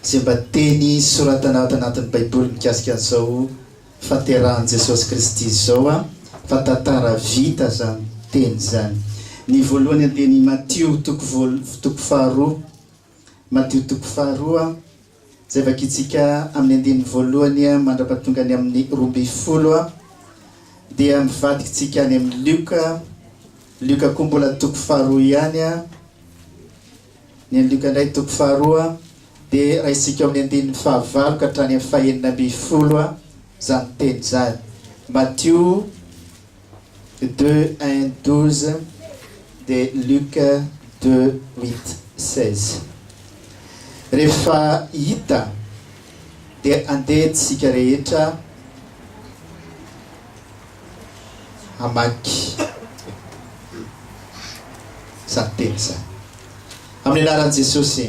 Izay mba teny soratana ato anatin'ny Baiboly mikasika an'izao Fahaterahan'i Jesosy Kristy izao an, fa tantara vita izany teny izany. Ny voalohany dia ny Matio toko voalo, toko faharoa. Matio toko faharoa, izay vakintsika amin'ny andininy voalohany mandra-pahatonga ny amin'ny roa ambin'ny folo, dia mivadikintsika any amin'ny Lioka, Lioka koa mbola toko faharoa ihany, Ny andiniko indray toko faharoa dia raisinko amin'ny andininy fahavalo ka hatrany amin'ny fahenina ambin'ny folo izany teny izany. Matio deux un douze de Luc deux huit seize. Rehefa hita dia andeha tsika rehetra. hamaky izany teny izany. Amin'ny anaran'i Jesosy,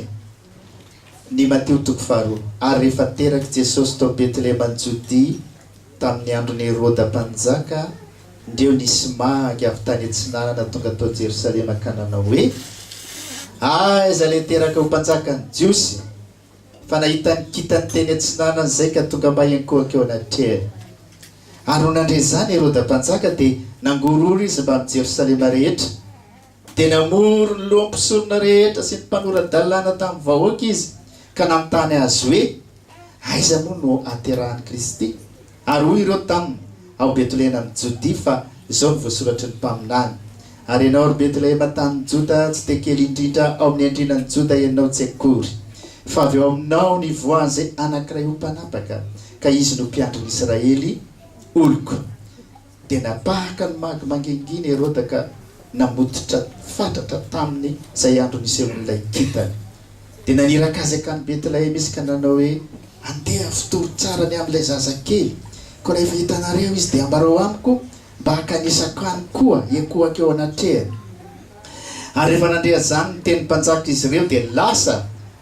ny Matio toko faharoa. Ary rehefa terak'i Jesosy tao Betleheman'i Jodia tamin'ny andron'i Heroda mpanjaka, ndreo nisy mahangy avy tany atsinanana tonga tao Jerosalema ka nanao hoe, Aiza ilay teraka ho mpanjakan'ny Jiosy? Fa nahita ny kitany teny atsinanana izay ka tonga mba hiankohaka eo anatrehany. Ary nony nandre izany Heroda mpanjaka dia nangororo izy mbamin'i Jerosalema rehetra. Dia namory ny loha mpisorona rehetra sy ny mpanora-dalàna tamin'ny vahoaka izy ka nanontany azy hoe, Aiza moa no haterahan'i Kristy? Ary hoy ireo taminy, Ao Betlehena amin'i Jodia, fa izao no voasoratry ny mpaminany, Ary ianao, ry Betlehema, tanin'i Joda, tsy dia kely indrindra ao amin'ny andrinan'i Joda ianao tsy akory, fa avy ao aminao no hivoahan'izay anankiray ho mpanapaka, ka izy no mpiandry ny Israely, oloko. Dia napahaka ny magy mangingina i Heroda ka namototra fatratra taminy izay andro nisehoan'ilay kintana. Dia naniraka azy hankany Betlehema izy ka nanao hoe, Andeha afitory tsara ny amin'ilay zazakely, koa rehefa hitanareo izy dia ambarao amiko mba hakanesako any koa hiankohaka eo anatrehany. Ary rehefa nandre azany ny tenin'ny mpanjaka izy ireo dia lasa,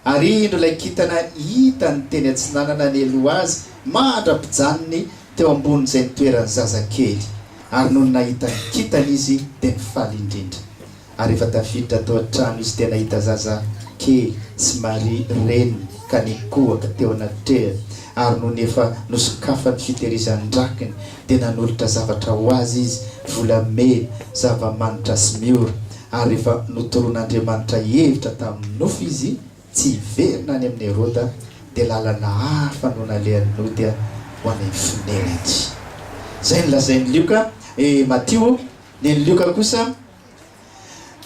ary indro ilay kintana hitany teny atsinanana nialoha azy mandra-pijanony teo ambonin'izay nitoeran'ny zaza kely, ary nony nahita ny kintana izy dia nifaly indrindra. Ary efa tafiditra tao an-trano izy dia nahita zaza kely sy Maria reniny ka nikohaka teo anatrehany, ary nony efa nosokafany fitehirizan-drakiny dia nanolotra zavatra ho azy izy, volamena, zava-manitra sy miora, ary rehefa notoron'Andriamanitra hevitra tamin'ny nofo izy, Tsy hiverina any amin'i Heroda, dia lalana hafa no nalehan'ny nody ho any Finerentsy. Izay no lazain'i Lioka, eh, Matio, ny an'i Lioka kosa,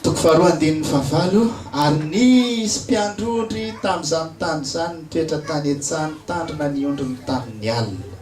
toko faharoa andininy fahavalo, Ary nisy mpiandrondry tamin'izany tany izany nitoetra tany an-tsaha nitandrina ny ondriny tamin'ny alina.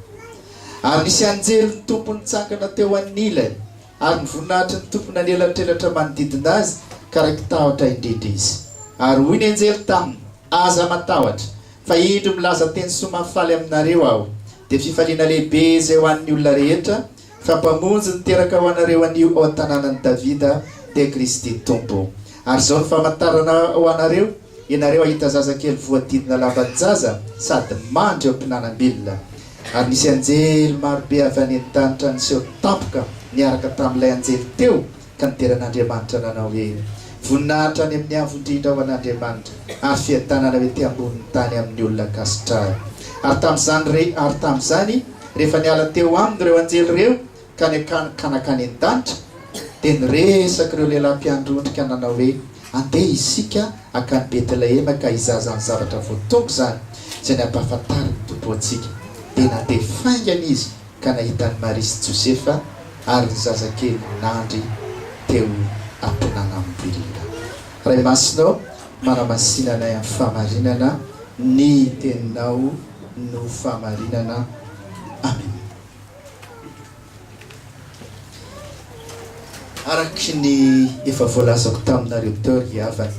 Ary nisy anjelin'ny Tompo nitsangana teo anilany, Ary ny voninahitry ny Tompo nanelantelatra manodidina azy, ka raiki-tahotra indrindra izy. Ary hoy ny anjely taminy, Aza matahotra, fa indro milaza teny soa mahafaly aminareo aho, dia fifaliana lehibe izay ho an'ny olona rehetra, fa Mpamonjy niteraka ho anareo anio ao an-tanànan'i Davida, dia Kristy Tompo. Ary izao no famantarana ho anareo, Ianareo hahita zazakely voadidina lavan-jaza sady mandry eo am-pinanam-bilona. Ary nisy anjely marobe avy any an-danitra niseho tampoka niaraka tamin'ilay anjely teo ka nidera an'Andriamanitra nanao hoe, Voninahitra any amin'ny Avo Indrindra ho an'Andriamanitra ary fiadanana ho ety ambonin'ny tany amin'ny olona ankasitrahy. Ary tamin'izany, ary tamin'izany, rehefa niala teo aminy ireo anjely ireo, ka ny ka nakany an-danitra, dia niresaka ireo lehilahy mpiandry ondrika nanao hoe, Andeha isika hankany Betlehema ka hizaza ny zavatra voatonga izany, izay nampahafantarin'ny Tompo antsika. Dia nandeha faingana izy ka nahita an'i Maria sy Josefa ary ny zazakely nandry teo am-pinanam-birina. Ray Masina ô, manamasina anay amin'ny fahamarinana, ny Teninao no fahamarinana. Amena. Araka ny efa voalazako taminareo teo ry havana,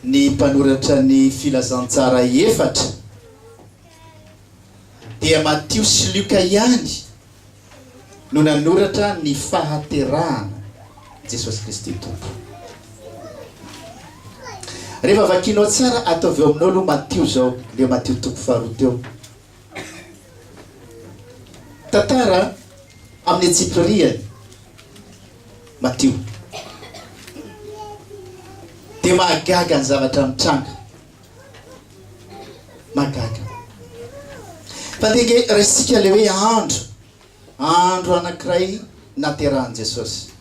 ny mpanoratra ny Filazantsara efatra dia Matio sy Lioka ihany no nanoratra ny fahaterahana Jesosy Kristy Tompo. Rehefa vakianao tsara, ataovy eo aminao aloha Matio izao, ilay Matio toko faharoa teo. Tantara amin'ny antsipiriany Matio. Dia mahagaga ny zavatra mitranga. Mahagaga. Fa dia nge raisika le hoe andro, andro anankiray naterahan'i Jesosy.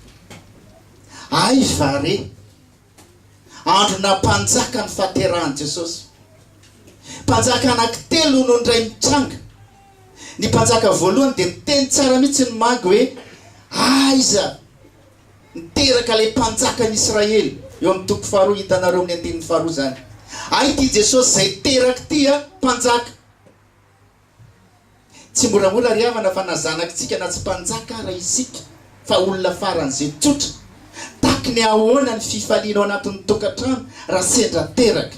Aiza re? Andronà Mpanjaka ny fahaterahan'i Jesosy. Mpanjaka anankitelo no indray mitranga. Ny mpanjaka voalohany dia niteny tsara mihitsy ny magy hoe, Aiza no teraka ilay mpanjakan'ny Israely? Eo amin'ny toko faharoa, hitanareo amin'ny andininy faharoa izany. Hay ity Jesosy izay teraka ity an, mpanjaka. Tsy moramora ry havana fa na zanakitsika na tsy mpanjaka ara isika fa olona faran'izay tsotra. Taky ny ahoana ny fifaliana ao anatin'ny tokantrano raha sendra teraka.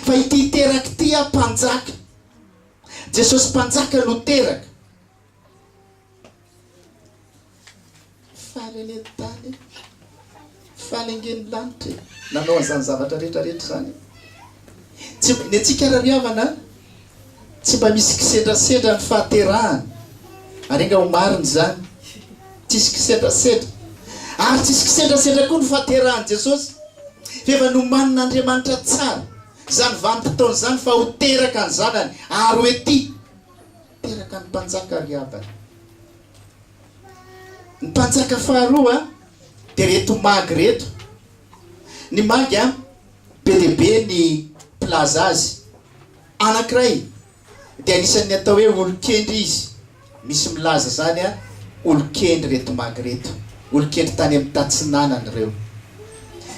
Fa ity teraka ity aho mpanjaka. Jesosy mpanjaka no teraka. Faly anie ny tany e! Faly ange ny lanitra e! Nanao an'izany zavatra rehetra rehetra izany e! Tsy mba, ny antsika ary ry havana an! Tsy mba misy kisendrasendra ny fahaterahana ary enga ho marina izany! Tsisy kisendrasendra! Ary tsisy kisendrasendra koa ny fahaterahan'i Jesosy! F'efa nomanin'Andriamanitra tsara izany vanim-potoana izany fa ho teraka ny Zanany ary ho ety! teraka ny mpanjaka ry havana. Ny mpanjaka faharoa dia reto magy reto. Ny magy a, be dia be ny mpilaza azy. Anankiray dia anisan'ny atao hoe olon-kendry izy. Misy milaza izany a, olon-kendry reto magy reto. Olon-kendry tany amin'ny tatsinanana ireo.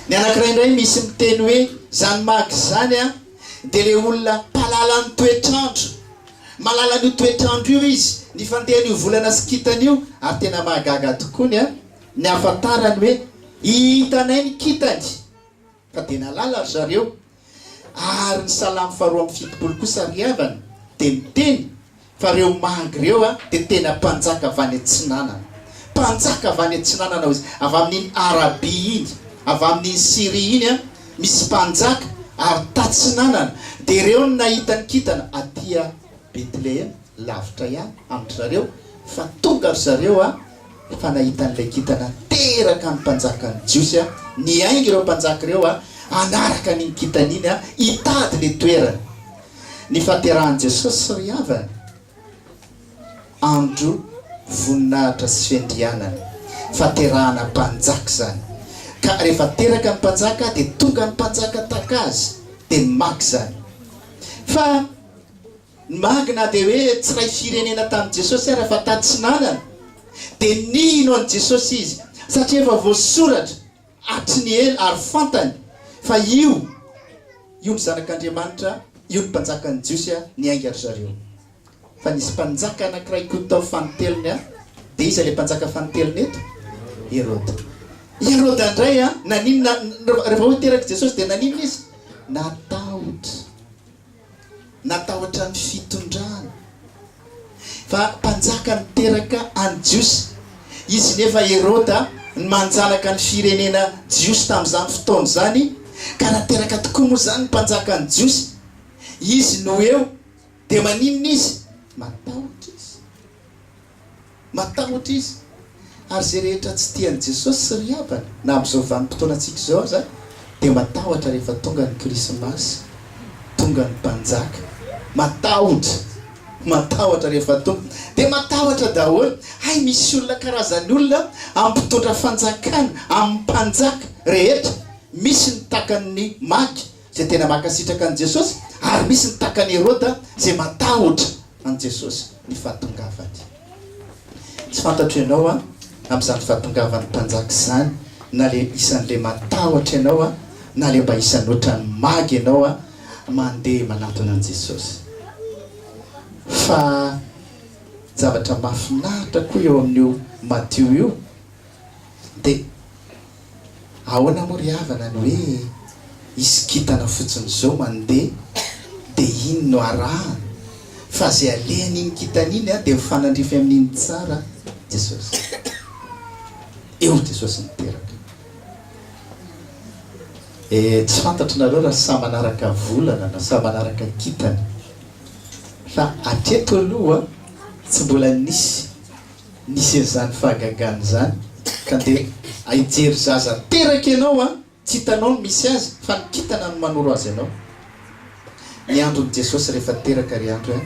Ny anankiray indray misy miteny hoe izany magy izany a, dia ilay olona mpahalalan'ny toetr'andro. Mahalala an'io toetr'andro io izy, ny fandehan'io volana sy kintana io, ary tena mahagaga tokoa ny ny hahafantarany hoe hitanay ny kintany fa dia nahalala ry zareo. Ary ny Salamo faharoa amby fitopolo kosa ry havana dia miteny fa ireo magy ireo dia tena mpanjaka avy any atsinanana. Mpanjaka avy any atsinanana hoy izy, avy amin'iny Arabia iny, avy amin'iny Syria iny. Misy mpanjaka ary tatsinanana, dia ireo no nahita ny kintana aty a Betlehema, lavitra ihany amin-dry zareo, fa tonga ry zareo a, fa nahita an'ilay kintana teraka ny mpanjakan'ny Jiosy a, niainga ireo mpanjaka ireo a, hanaraka an'iny kintana iny a, hitady ilay toerana nifaterahan'i Jesosy sy ry havany. Andro voninahitra sy fiandrianana, fahaterahana mpanjaka izany. Ka rehefa teraka ny mpanjaka dia tonga ny mpanjaka tahaka azy dia maga izany. Fa ny maga na dia hoe tsy ray firenena tamin'i Jesosy ara fa tatsinanana. Dia nino an'i Jesosy izy satria efa voasoratra. Hatry ny ela ary fantany fa io, io ny Zanak'Andriamanitra, io ny Mpanjakan'ny Jiosy, niainga ry zareo. Fa nisy mpanjaka anankiray koa tao fanintelony, dia iza ilay mpanjaka fanintelony eto? Heroda. I Heroda indray, naninona, rehefa hoy terak'i Jesosy dia naninona izy? Natahotra. Natahotra ny fitondrany fa mpanjaka niteraka any Jiosy izy nefa Heroda ny manjanaka ny firenena Jiosy tamin'izany fotoana izany ka raha teraka tokoa moa izany ny mpanjaka ny Jiosy izy no eo dia maninona izy matahotra izy Matahotra izy. Ary izay rehetra tsy tia an'i Jesosy sy ry havany, na amin'izao vanim-potoanantsika izao aza, dia matahotra rehefa tonga ny Krismasy, tonga ny Mpanjaka. Matahotra! Matahotra rehefa tonga. Dia matahotra daholo. Hay misy olona karazany olona amin'ny mpitondra fanjakana, amin'ny mpanjaka rehetra. Misy ny takan'ny magy. izay tena mankasitraka an'i Jesosy, ary misy ny takan'i Heroda izay matahotra an'i Jesosy, ny fahatongavany. Tsy fantatro ianao an, amin'izany fahatongavan'ny mpanjaka izany, na le isan'le matahotra ianao an, na le mba isan'ny ohatran'ny maga ianao an, mandeha manatona an'i Jesosy. Fa zavatra mahafinaritra koa eo amin'io Matio io, Dia ahoana moa ry havana ny hoe hisy kintana fotsiny izao mandeha dia iny no arahana fa izay alehan'iny kintana iny an dia mifanandrify amin'iny tsara Jesosy. Eo Jesosy niteraka. Eh tsy fantatro nareo raha samy manaraka volana na samy manaraka kintana fa hatreto aloha tsy mbola nisy nisy an'izany fahagagana izany ka andeha hijery zaza teraka ianao a! tsy hitanao ny misy azy fa ny kintana no manoro azy anao. Ny andron'i Jesosy rehefa teraka ry andry a!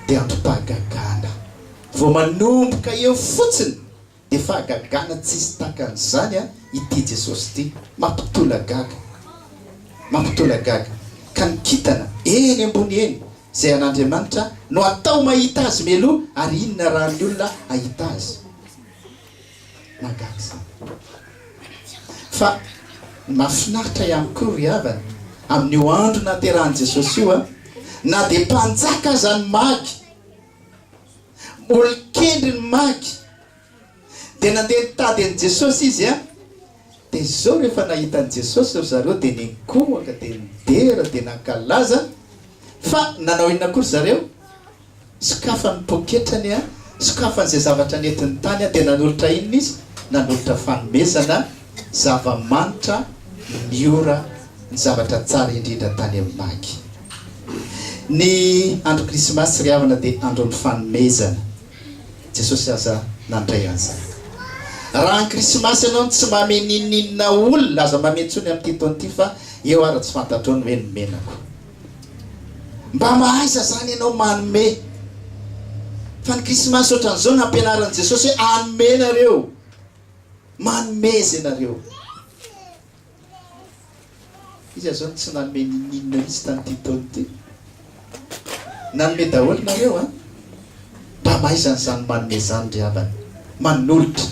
dia androm-pahagagana. Vao manomboka eo fotsiny dia fahagagana tsisy takan'izany a! ity Jesosy ity mampitolagaga, mampitolagaga ka ny kintana eny ambony eny. Izay an'Andriamanitra no atao mahita Azy mialoha, ary inona raha ny olona hahita Azy? Mahagaga izany. Fa ny mahafinaritra ihany koa, ry havana, amin'io andro nahaterahan'i Jesosy io, na dia mpanjaka aza ny magy, olon-kendry ny magy, Dia nandeha nitady an'i Jesosy izy an! Dia izao rehefa nahita an'i Jesosy ry zareo dia niankohoka dia nidera dia nankalaza, fa nanao inona koa ry zareo? Sokafany ny poketrany an! Sokafany izay zavatra nentiny tany an! Dia nanolotra inona izy? Nanolotra fanomezana, zava-manitra, ny ora, ny zavatra tsara indrindra tany amin'ny magy. Ny andro krismasy ry havana dia andron'ny fanomezana. Jesosy aza nandray an'izany. Raha any Krismasy ianao no tsy mame n'inon'inona olona aza mame intsony amin'ity taona ity fa eo ary tsy fantatrao ny hoe ny menako. Mba mahaiza izany ianao manome. Fa ny Krismasy ohatran'izao nampianarin'i Jesosy hoe anome nareo. Manome izay nareo. Iza zao no tsy nanome ninoninona mihitsy tan'ity taona ity? Nanome daholo nareo an! Mba maizana izany manome izany ry havana, manolotra.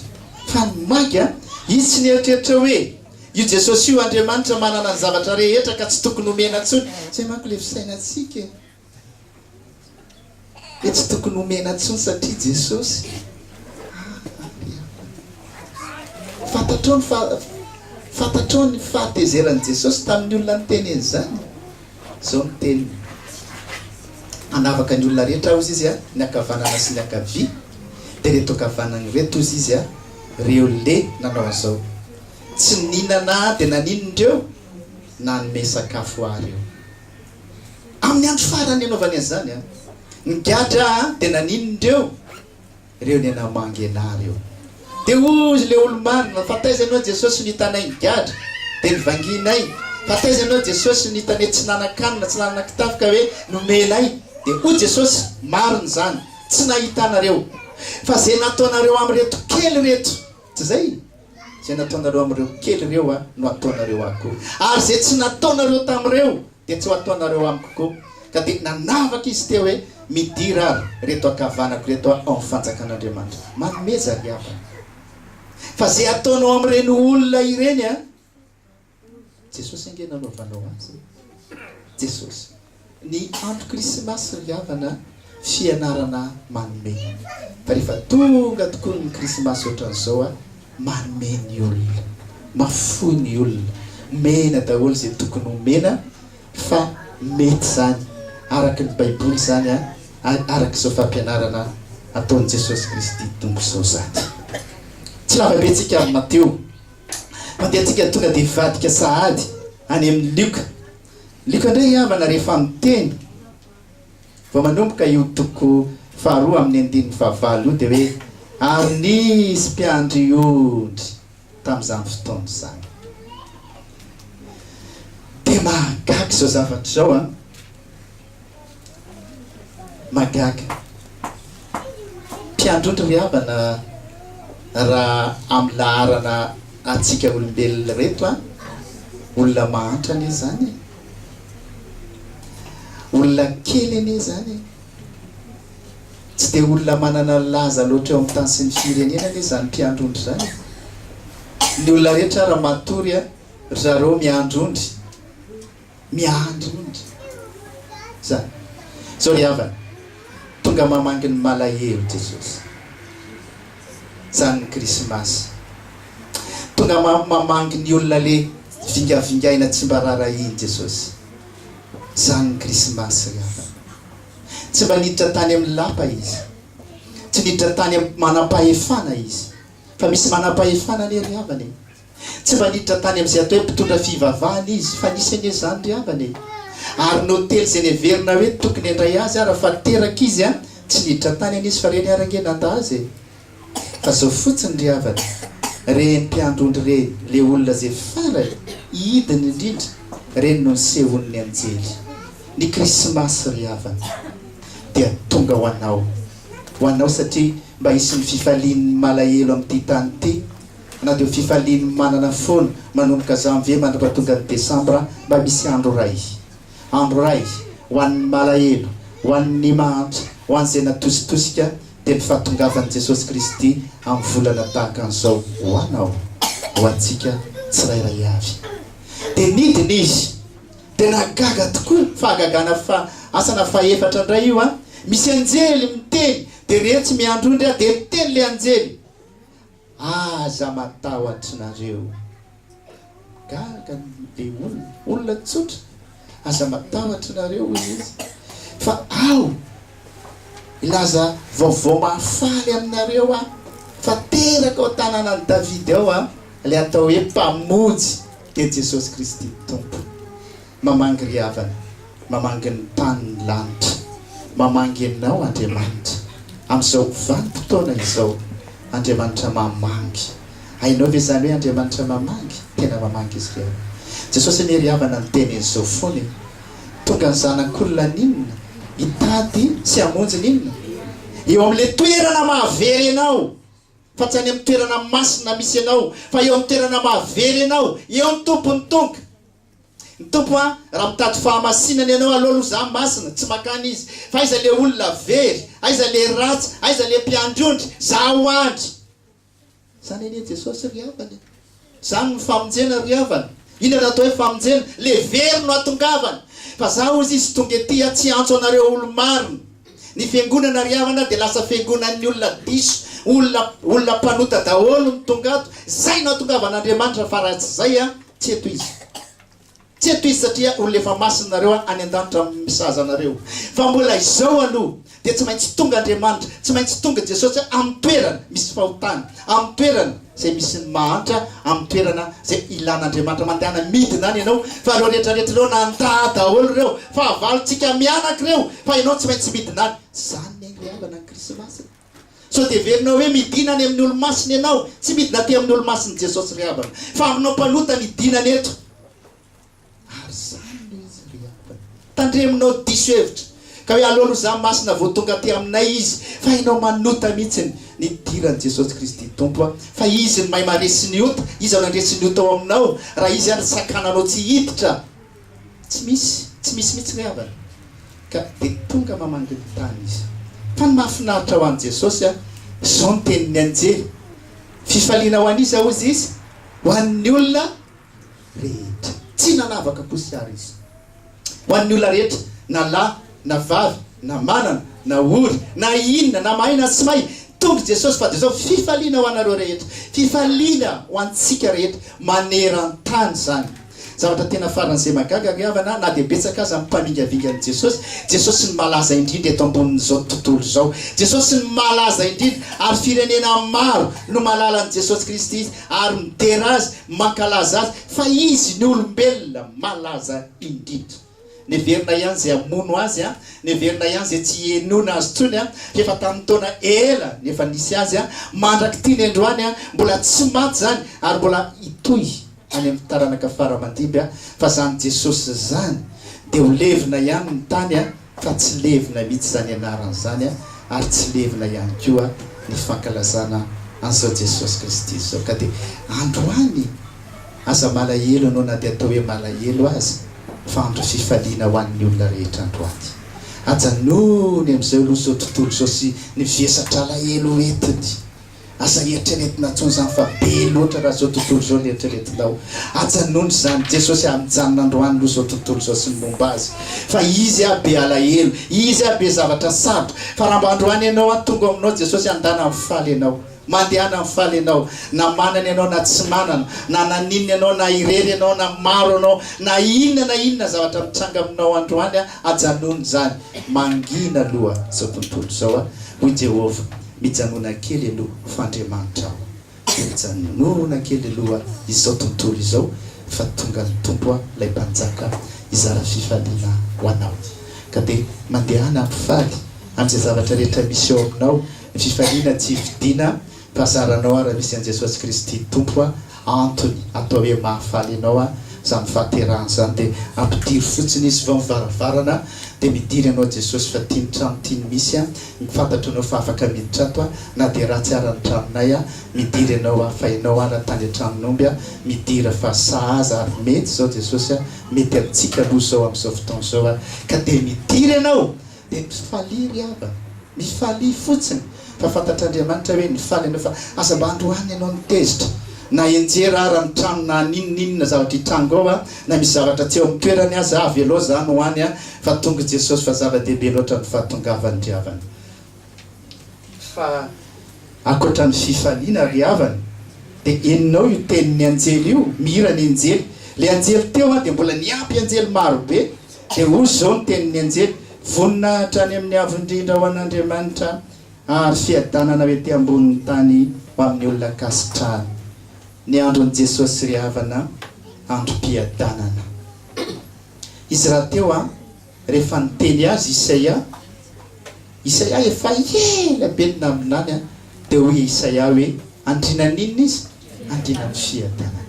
Fa ny magy an! Izy tsy nieritreritra hoe io Jesosy io Andriamanitra manana ny zavatra rehetra ka tsy tokony homena intsony. Izay manko ilay fisainantsika e! Dia tsy tokony homena intsony satria Jesosy Fantatrao ny fa Fantatrao ny fahatezeran'i Jesosy tamin'ny olona niteny an'izany? Izao ny teniny, Hanavaka ny olona rehetra Aho, hozy Izy, ny ankavanana sy ny ankavia. Dia ireto ankavanana ireto, hozy Izy, ireo le nanao an'izao, Tsy nihinana Ahy dia nanino indreo? Nanome sakafo Ahy ireo. Amin'ny andro farany nanaovany azy izany, ny gadra dia nanino ny reo, reo niana mangena reo. Dia hoy ilay olo-marina, fa taiza ianao Jesosy no hitanay ny gadra? Dia nivangianay, fa taiza ianao Jesosy no hitanay tsy nanan-kanina, tsy nanana kitafo ka hoe nomenay? Dia hoy Jesosy, marina izany, tsy nahitanareo, fa izay nataonareo amin'ireto kely ireto, Tsy izay? Izay nataonareo amin'ireo kely ireo aho no hataonareo ahy koa, ary izay tsy nataonareo tamin'ireo dia tsy ho hataonareo amiko koa. Ka dia nanavaka izy teo hoe, Midira ary ireto ankavanako ireto ao amin'ny fanjakan'Andriamanitra. Manomeza ry havana. Fa izay ataonao amin'ireny olona ireny, Jesosy ange nanaovanao azy e! Jesosy. Ny andro krismasy ry havana fianarana manome fa rehefa tonga tokoa ny krismasy ohatran'izao a, manome ny olona, mahafoy ny olona, omena daholo izay tokony omena fa mety izany araka ny baiboly izany a, araka izao fampianarana ataon'i Jesosy Kristy Tompo izao izany. Tsy lavabe tsika amin'i Mateo Mandeha tsika tonga dia hivadika sahady any amin'i Lioka. Lioka indray havana rehefa miteny vao manomboka io toko faharoa amin'ny andininy fahavalo io dia hoe, Ary nisy mpiandry ondry tamin'izany fotoana izany. Dia mahagaga izao zavatra izao an! Mahagaga. Mpiandrotry ry havana raha amin'ny laharana antsika olombelona ireto a! Olona mahantra anie izany e! Olona kely anie izany e! Tsy dia olona manana laza loatra eo amin'ny tany sy ny firenena anie izany mpiandrondry izany e! Ny olona rehetra ara matory a! Ry zareo miandrondry. Miandry onitra za zao ry havana Tonga mamangy ny malahelo Jesosy Zany ny krismasy Tonga mamangy ny olona le vingavingaina tsy mba rarahiny Jesosy Zany ny krismasy ry havana Tsy mba niditra tany amin'ny lapa izy Tsy niditra tany amin'ny manampahefana izy Fa misy manampahefana anie ry havana e Tsy mba niditra tany amin'izay atao hoe mpitondra fivavahana izy, fa nisy anie izany ry havana e! Ary ny hotely izay neverina hoe tokony handray azy ary fa teraka izy an! tsy niditra tany anie izy fa ireny ary ange nanda azy e! Fa izao fotsiny ry havana, ireny mpiandry ondry ireny, ilay olona izay farany, hidiny indrindra, ireny no nisehoan'ny anjely. Ny Krismasy ry havana dia tonga ho anao, ho anao satria mba hisy ny fifalian'ny malahelo amin'ity tany ity, Na dia ho fifalian'ny manana foana manomboka Janvier mandritra tonga ny Desambra mba misy andro iray. Andro iray ho an'ny malahelo, ho an'ny mahantra, ho an'izay natositosika dia ny fahatongavan'i Jesosy Kristy amin'ny volana tahaka an'izao ho anao, ho antsika tsirairay avy. Dia nidina izy. Dia nahagaga tokoa, fahagagana fa asana fahefatra indray io an! Misy anjely miteny, dia reto tsy miandry ondry aho, dia miteny ilay anjely. Aza matahotra nareo. Gaga be olona. Olona tsotra. Aza matahotra nareo hoy izy fa aho hilaza vaovao mahafaly aminareo aho fa teraka ao tananan'i Davida ao aho ilay atao hoe mpamonjy dia Jesosy Kristy Tompo. Mamangy ry havana, mamangy ny tany ny lanitra, mamangy ianao Andriamanitra, amin'izao vanim-potoana izao, Andriamanitra mamangy. Hainao ve izany hoe Andriamanitra mamangy? Tena mamangy Izy ireo. Jesosy anie ry havana niteny an'izao foana e! Tonga ny Zanak'olona haninona? Hitady sy hamonjy ny inona? Eo amin'ilay toerana mahavery anao, fa tsy any amin'ny toerana masina misy anao, fa eo amin'ny toerana mahavery anao, eo ny Tompon'ny tonga. Ny Tompo a! Raha mitady fahamasinana ianao aleo aloha za masina, tsy makany izy. Fa aiza le olona very? Aiza le ratsy? Aiza le mpiandry ondry? Za ho andry! Zany anie Jesosy ry havana e! Zany no famonjena ry havana! Inona no atao hoe famonjena? Le very no atongavana! Fa za hozy izy tonga ety a tsy hiantso anareo olo-marina! Ny fiangonana ry havana dia lasa fiangonan'ny olona diso, olona olona mpanota daholo no tonga ato! Zay no atongavan'Andriamanitra fa raha tsy zay a! Tsy eto izy. Tsy eto izy satria olona efa masina nareo any an-danitra misahaza anareo. Fa mbola izao aloha dia tsy maintsy tonga Andriamanitra, tsy maintsy tonga Jesosy amin'ny toerana misy fahotana, amin'ny toerana izay misy ny mahantra, amin'ny toerana izay ilana Andriamanitra. Mandehana midina any ianao fa ireo rehetrarehetra ireo nandà daholo ireo fahavalontsika mianaka ireo fa ianao tsy maintsy midina any. Izany ny aingam-pihavanan'ny Krismasy. Sao dia heverinao hoe midina any amin'ny olo-masina ianao? Tsy midina aty amin'ny olo-masin'i Jesosy ry havana, fa aminao mpanota no idinany eto. Ary izany ilay izy ry havana. Tandremonao diso hevitra, ka hoe alolozaha masina vao tonga aty aminay izy, fa ianao manota mihitsy ny nidiran'i Jesosy Kristy Tompo a! Fa izy no mahay maresy ny ota, iza no handresy ny ota ao aminao, raha izy ary sakananao tsy hiditra? Tsy misy, tsy misy mihitsy ny havana ka dia tonga mamangy ny tany izy. Fa ny mahafinaritra ho an'i Jesosy an, izao ny tenin'ny anjely, Fifaliana ho an'iza hozy izy? Ho an'ny olona rehetra. Tsy nanavaka kosa ary izy. Ho an'ny olona rehetra, na lahy na vavy, na manana, na ory, na inona, na mahay na tsy mahay, tonga i Jesosy fa dia izao fifaliana ho anareo rehetra, fifaliana ho antsika rehetra maneran-tany izany. Zavatra tena faran'izay mahagaga ry havana, na dia betsaka aza ny mpamingavinga an'i Jesosy, Jesosy no malaza indrindra eto ambonin'izao tontolo izao, Jesosy no malaza indrindra ary firenena maro no mahalala an'i Jesosy Kristy ary midera Azy, mankalaza Azy fa Izy ny olombelona malaza indrindra. Neverina ihany izay hamono azy, neverina ihany izay tsy hihenoina azy intsony, efa tamin'ny taona ela ny efa nisy azy, mandrak'ity ny androany, mbola tsy maty izany ary mbola hitohy any amin'ny taranaka fara aman-dimby, fa izany Jesosy izany dia ho levona ihany ny tany fa tsy levona mihitsy izany anarany izany ary tsy levona ihany koa ny fankalazana an'izao Jesosy Kristy izao ka dia androany Aza malahelo ianao na dia atao hoe malahelo aza fa andro fifaliana ho an'ny olona rehetra androany. Ajanony amin'izay aloha izao tontolo izao sy ny vesatr'alahelo entiny. Aza eritreretina intsony izany fa be loatra raha izao tontolo izao no eritreretinao. Ajanony izany. Jesosy aho mijanona androany aloha izao tontolo izao sy ny momba azy fa izy aho be alahelo, izy aho be zavatra sarotra fa raha mba androany ianao aho tonga ao aminao Jesosy handana mifaly ianao. Mandehana ny faly ianao, na manana ianao na tsy manana, na naninona ianao, na irery ianao na maro ianao, na inona na inona zavatra mitranga aminao androany, ajanony izany. Mangina aloha izao tontolo izao a! Hoy Jehovah, Mijanona kely aloha, fa Andriamanitra aho. Mijanona kely aloha izao tontolo izao, fa tonga ny Tompo a! Ilay Mpanjaka hizara fifaliana ho anao. Ka dia mandehana ny faly amin'izay zavatra rehetra misy eo aminao. Fifaliana tsy vidiana fa zaranao ary misy an'i Jesosy Kristy Tompo a! Antony atao hoe mahafaly ianao a! Zany fahaterahana zany de ampidiro fotsiny izy vao mivaravarana de midiry anao Jesosy fa tia ny trano tia ny misy a! Fantatro anao fa afaka miditra ato a! Na de ratsy ara ny tranonay a! Midiry anao a! Fa ianao ara tany an-tranon'omby a! Midira fa sahaza ary mety zao Jesosy a! Mety amintsika aloha zao am'zao fotoana zao a! Ka de midiry ianao! Dia misy falia ry havana, misy falia fotsiny fa fantatr'Andriamanitra hoe nifaly ianao fa aza mba androany ianao ny tezitra na enjera ara ny trano na ninoninona zavatra hitranga ao na misy zavatra tsy eo amin'ny toerany aza avelao zany ho any fa tonga i Jesosy fa zava-dehibe loatra ny fahatongavany ry havana fa ankoatra ny fifaliana ry havana dia henonao io tenin'ny anjely io mihira ny anjely le anjely teo an dia mbola niampy anjely maro be Dia hoy izao ny tenin'ny anjely, Vonona hatrany amin'ny Avo Indrindra ho an'Andriamanitra, ary fiadanana ho ety ambonin'ny tany ho amin'ny olona ankasitrahana. Ny andron'i Jesosy ry havana, androm-piadanana. Izy rahateo rehefa niteny azy Isaia, Isaia efa ela be no naminany, dia hoy Isaia hoe, Andriana an'inona izy? Andriana amin'ny fiadanana.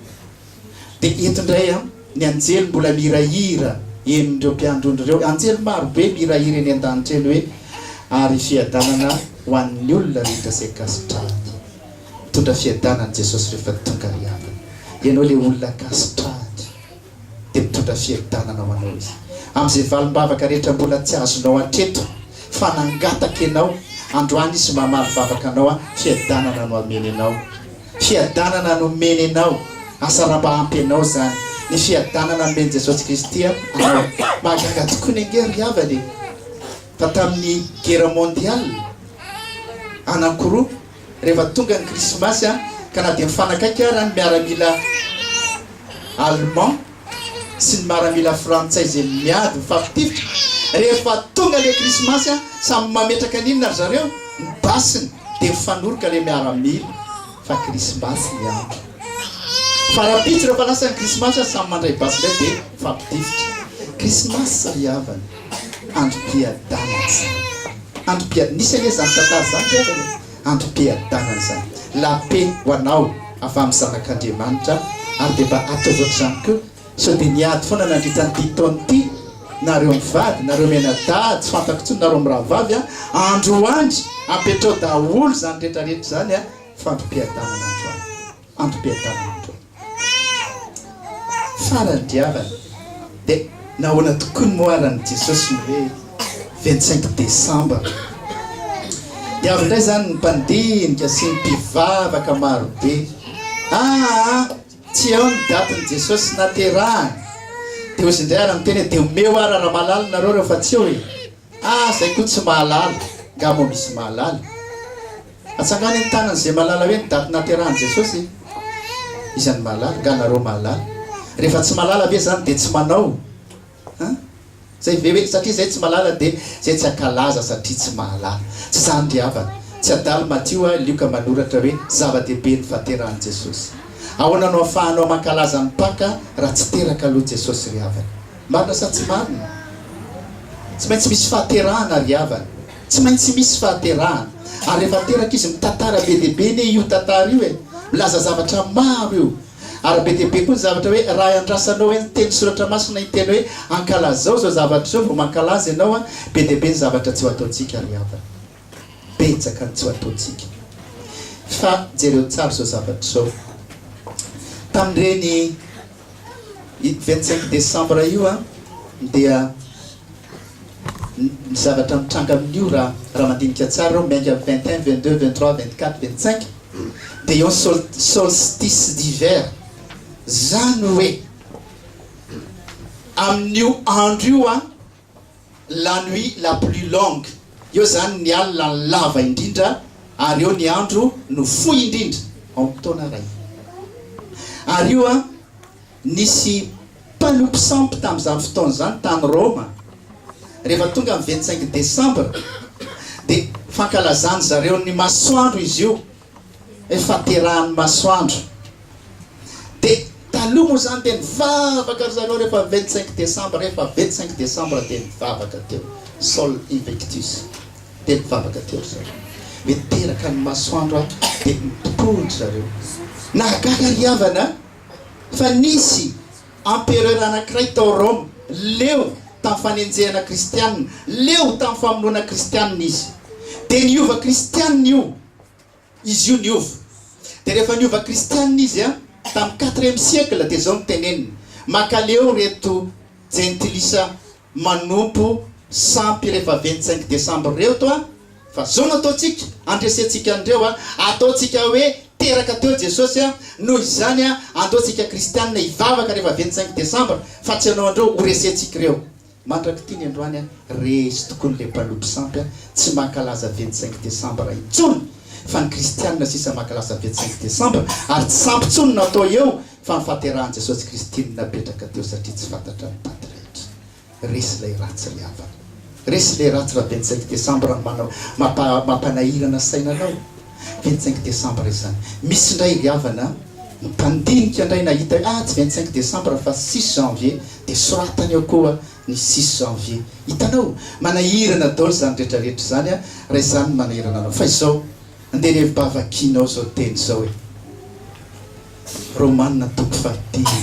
Dia eto indray an, ny anjely mbola mirahira eny ireo mpiandry ondry ireo, anjely maro be mirahira eny an-danitra eny hoe, Ary fiadanana ho an'ny olona rehetra izay kasitrahany. Mitondra fiadanana Jesosy rehefa tonga ry havana. Ianao ilay olona kasitrahany, dia mitondra fiadanana ho anao Izy. Amin'izay valim-bavaka rehetra mbola tsy azonao hatreto, fa nangataka ianao, androany Izy mamaly vavaka anao an, fiadanana no hameny anao. Fiadanana nomeny anao asa raha mba ampy anao zany ny fiadanana nomen'i Jesosy Kristy anao mahagaga tokoa ny ange ry havana e fa tamin'ny guerre mondial anankiroa rehefa tonga ny krismasy an ka na dia mifanakaiky ara ny miaramila allemand sy ny maramila frantsay ze miady mifampitifitra rehefa tonga le krismasy a samy mametraka ny inona ry zareo ny basiny de mifanoroka le miaramila fa krismasy ny andro fa rahampitso rehefa lasa ny krismasy a samy mandray basy ndray de mifampitifitra krismasy ry havana androm-piadanana zany androm-piad nisy anie zany tantara zany ry havana e ampipiadanana izany. La paix ho anao avy amin'ny zanak'Andriamanitra ary dia mba ataovy ohatr'izany koa sao dia niady foana nandritra an'ity taona ity nareo mivady, nareo mianadahy, tsy fantako intsony nareo mirahavavy an, andro ho andry apetrao daholo izany rehetra rehetra izany an, fampipiadanana androany. Antom-piadanana tokoa. Faran'ny diavana. Dia nahoana tokoa ny moaran'i Jesosy ny hoe vingt cinq décembre? Dia avy indray izany ny mpandinika sy ny mpivavaka maro be. Aa! tsy ao ny datin'i Jesosy naterahany. Dia hozy indray ary miteny hoe dia omeo ary raha malala nareo rehefa tsy eo e! Ah zay koa tsy mahalala, nga moa misy mahalala? Atsangano eny tanany zay malala hoe ny daty naterahany Jesosy e! Iza no mahalala? Nga nareo mahalala? Refa tsy malala ve zany de tsy manao an? Zay ve hoe satria zay tsy malala de zay tsy akalaza satria tsy mahalala? Tsy zany ry havana, tsy adalo Matio a Lioka manoratra hoe zava-dehibe ny fahaterahan'i Jesosy. Ahoana no afahanao mankalaza ny Paka raha tsy teraka aloha Jesosy ry havana? Marina sa tsy marina? Tsy maintsy misy fahaterahana ry havana. Tsy maintsy misy fahaterahana. Ary rehefa teraka izy mitantara be dia be anie io tantara io e! Milaza zavatra maro io. Ary be dia be koa ny zavatra hoe raha iandrasanao hoe ny teny soratra masina iny teny hoe ankalazao izao zavatra izao vao mankalaza ianao an, be dia be ny zavatra tsy ho ataontsika ry havana. betsaka antso ataontsika. Fa jereo tsara izao zavatra izao. Tamin'ireny vingt cinq décembre io an, dia ny zavatra mitranga amin'io raha raha mandinika tsara ireo miainga vingt un, vingt deux, vingt trois, vingt quatre, vingt cinq dia eo sol solstice d'hiver. Izany hoe amin'io andro io an. La nuit la plus longue, eo izany ny alina lava indrindra ary eo ny andro no fohy indrindra ao amin'ny taona iray. Ary io an, nisy mpanompy sampy tamin'izany fotoana izany tany Roma, rehefa tonga ny vingt cinq décembre dia fankalazan'ny zareo ny masoandro izy io, Faterahan'ny masoandro. Dia taloha moa izany dia nivavaka ry zareo rehefa vingt cinq décembre, rehefa vingt cinq décembre dia nivavaka teo, sol invictus. Dia nivavaka teo ry zareo. Dia niteraka ny masoandro ato, dia nitompo ry zareo. Nahagaga ry havana a! Fa nisy empereur anankiray tao Rome, leo tamin'ny fanenjehana kristianina, leo tamin'ny famonoana kristianina izy. Dia niova kristianina io, Izy io niova. Dia rehefa niova kristianina izy an, tamin'ny quatrième siècle dia izao no teneniny, Mankaleo ireto jentilisa manompo sampy rehefa vingt cinq décembre ireto an, fa izao no ataontsika, andresentsika an'ireo an, ataontsika hoe teraka teo Jesosy an, noho izany an, andeontsika kristianina hivavaka rehefa vingt cinq décembre, fa tsy ianao indreo horesentsika ireo. Mandrak'ity ny androany a! Reesy tokoa ny lempanompo sampy a! Tsy mankalaza vingt cinq décembre intsony fa ny kristianina sisa mankalaza vingt cinq décembre ary tsy sampy intsony no atao eo fa ny fahaterahan'i Jesosy Kristy no napetraka teo satria tsy fantatra ny daty rehetra. Resy ilay ratsy ry havana. Resy ilay ratsy raha vingt cinq décembre no manao mampanahirana saina anao. vingt cinq décembre izany misy indray ry havana mpandinika indray nahita hoe ah tsy vingt cinq décembre fa six janvier dia soratany eo koa ny six janvier hitanao manahirana daholo izany rehetra rehetra izany a raha izany no manahirana anao fa izao andeha ny hevi-bava hakianao izao teny izao hoe Romana toko fahadimy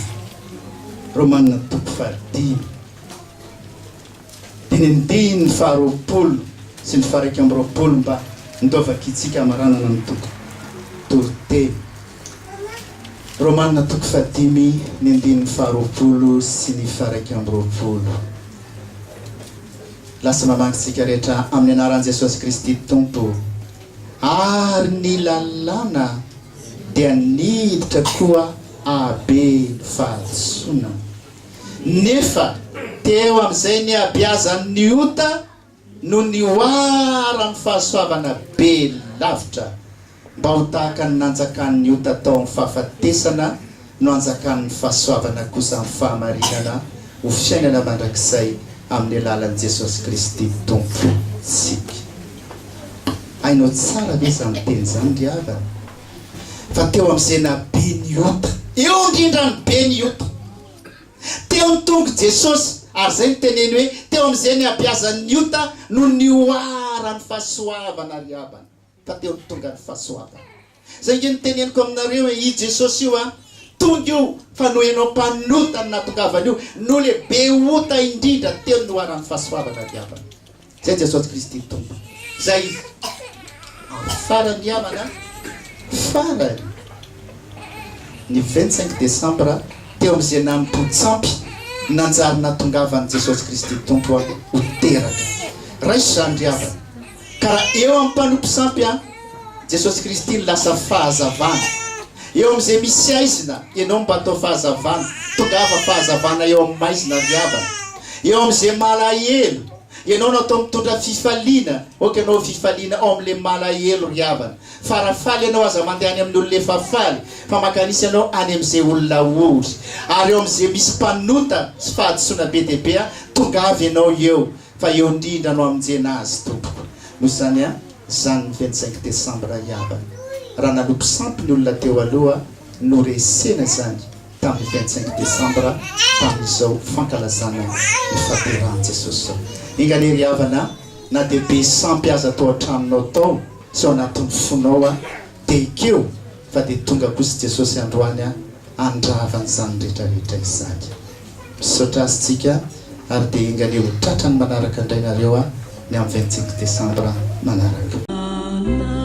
Romana toko fahadimy Teny amin'ny diny ny faharoapolo sy ny faharaika amby roapolo mba ndao vakintsika hamaranana ny toko toriteny Romanina toko fahadimy ny andininy faharoapolo sy ny faharaika amby roapolo. Lasa mamangy tsika rehetra amin'ny anaran'i Jesosy Kristy Tompo. Ary ny lalàna dia niditra koa habe ny fahadisoana. Nefa teo amin'izay nihabeazany ny ota no nihoaran'ny fahasoavana be lavitra, mba ho tahaka ny nanjakan'ny ota tao amin'ny fahafatesana no anjakan'ny fahasoavana kosa amin'ny fahamarinana ho fiainana mandrakizay amin'ny alalan'i Jesosy Kristy Tompontsika. Hainao tsara ve izany teny izany ry havana? fa teo amin'izay naha be ny ota. Eo indrindra ny be ny ota. Teo ny tongo Jesosy, ary izay no teneny hoe teo amin'izay nihabeazan'ny ota no nihoaran'ny fahasoavana ry havana, fa teo ny tonga ny fahasoavana. Izay ange no teneniko aminareo e, io Jesosy io an, tonga io fa noho ianao mpanota no nahatongavany io, noho le be ota indrindra teo no nihoaran'ny fahasoavana ry havana. Izay Jesosy Kristy Tompo. Izay Izy. Ary farany namana, farany, ny vingt cinq décembre teo amin'ny Zenampontsampy, nanjary nahatongavan'i Jesosy Kristy Tompo aho ho teraka. Raiso izany ry havana. Ka raha eo amin'ny mpanompo sampy aho, Jesosy Kristy no lasa fahazavana eo amin'izay misy haizina, ianao mba atao fahazavana, tongava fahazavana eo amin'ny maizina ry havana, eo amin'izay malahelo, ianao no atao mitondra fifaliana, ok anao fifaliana ao amin'ilay malahelo ry havana, fa raha faly ianao aza mandeha any amin'ny olona efa faly, fa mankanisa ianao any amin'izay olona ory, ary eo amin'izay misy mpanota sy fahadisoana be dia be, tongava ianao eo, fa eo indrindra no hamonjena azy tompoko, noho izany an. Izany ny vingt cinq décembre iabany. Raha nanopy sampy ny olona teo aloha, noresena izany tamin'ny vingt cinq décembre tamin'izao fankalazana ny fahaterahan'i Jesosy izao. Enga anie ry havana a! Na dia be sampy aza tao an-tranonao tao sy ao anatin'ny fonao a! Dia ekeo fa dia tonga kosa i Jesosy androany handrava an'izany rehetra rehetra izany. Misaotra Azy tsika ary dia enga anie ho tratra ny manaraka indray nareo ny am vingt cinq decembre manaraka. Anna.